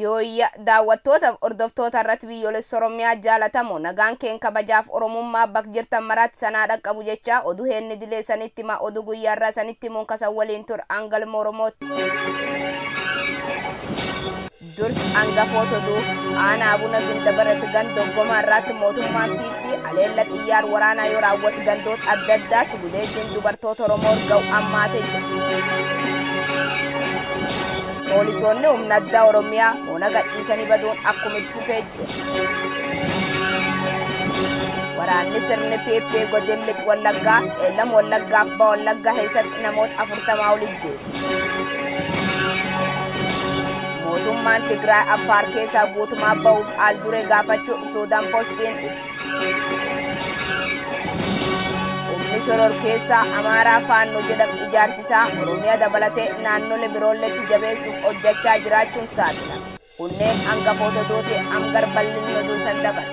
Yooyya daawwattootaaf hordoftoota irratti biyyoolessa Oromiyaa jaalatamoo nagaan keen kabajaaf Oromummaa bak jirtan maraatti sanaa dhaqqabu jechaa oduu heenni dilee sanitti himaa oduu guyyaa irraa sanitti himuun kasan waliin tur angalma Oromootti. Durs angafoota oduu aanaa abuna gindabarat ganda oggomaa irraatti mootummaan PP aleella xiyyaar waraanaa yoo raawwatu gandoota adda addaatti gudeeddiin dubartoota Oromoo ga'u ammaatee jiru. Poolisoonni humna addaa Oromiyaa ona gadhiisanii baduun akkuma itti fufee jiru. Waraanni sirni PP godin lix wallaggaa qeellam wallaggaaf ba'a wallaggaa keessatti namoota afurtamaa ol ijjeese. Mootummaan Tigraay Affaar keessaa guutumaa ba'uuf al dure gaafachuu Suudaan Postiin ibsa. Humni shoror keessaa Amaaraa Faannoo jedhamu ijaarsisaa Oromiyaa dabalatee naannolee biroolleetti jabeessuuf hojjechaa jiraachuun saaxilame. Kunneen hangafoota duuti hangar bal'inni oduu san dabale.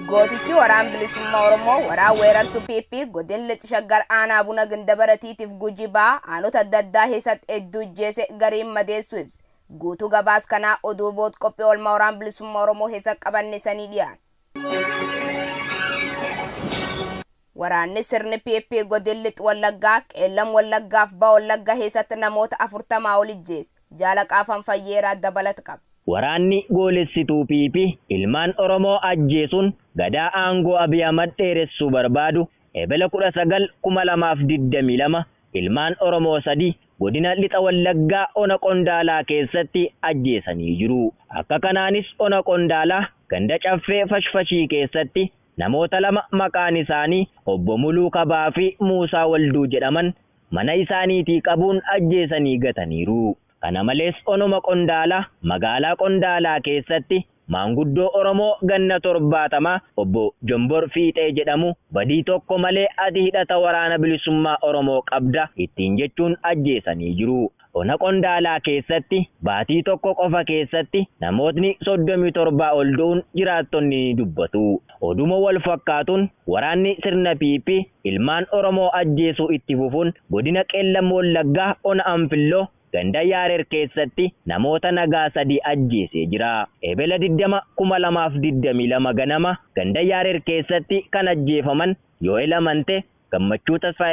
Gootichi waraan bilisummaa Oromoo waraan weerartu PP godin lixi shaggar aanaa buna gindabaratiitiif guji baa aanota adda addaa keessatti hedduu ijjeese gariin madeessu ibse. Guutuu gabaas kanaa oduu bood qophii oolmaa waraan bilisummaa Oromoo keessa qabanne sanii dhiyaan. Waraanni sirni PP Godin Lix Wallaggaa, Qeellam Wallaggaa fi Baha Wallagga keessatti namoota 40 ol ijjeese. Jaalaqaa Fanfayyeeraa dabalat qaba. Waraanni goolessituu PP ilmaan Oromoo ajjeesuun Gadaa aangoo Abiy Ahmad dheeressuu barbaadu Ebela 19, 2022 ilmaan Oromoo 3 Godina Lixa Wallaggaa Ona Qondaalaa keessatti ajjeesanii jiru. Akka kanaanis Ona Qondaalaa ganda Caffee Fashfashii keessatti Namoota lama maqaan isaanii Obbo Muluu Kabaa fi Muusaa Walduu jedhaman mana isaaniitii qabuun ajjeesanii gataniiru. Kana malees Onuma Qondaalaa magaalaa Qondaalaa keessatti maanguddoo Oromoo ganna 70 Obbo Jombor Fiixee jedhamu badii tokko malee ati hidhata Waraana Bilisummaa Oromoo qabda ittiin jechuun ajjeesanii jiru. Ona Qondaalaa keessatti baatii tokko qofa keessatti namootni 37 ol du'uun jiraattonni ni dubbatu. Oduma walfakkaatuun waraanni sirna PP ilmaan Oromoo ajjeesuu itti fufuun godina Qeellam Wallaggaa ona Anfilloo ganda Yaareer keessatti namoota nagaa sadii ajjeesee jira. Ebela 20, 2022 ganama ganda Yaareer keessatti kan ajjeefaman Yoo'el Amantee, Gammachuu Tasfaayee,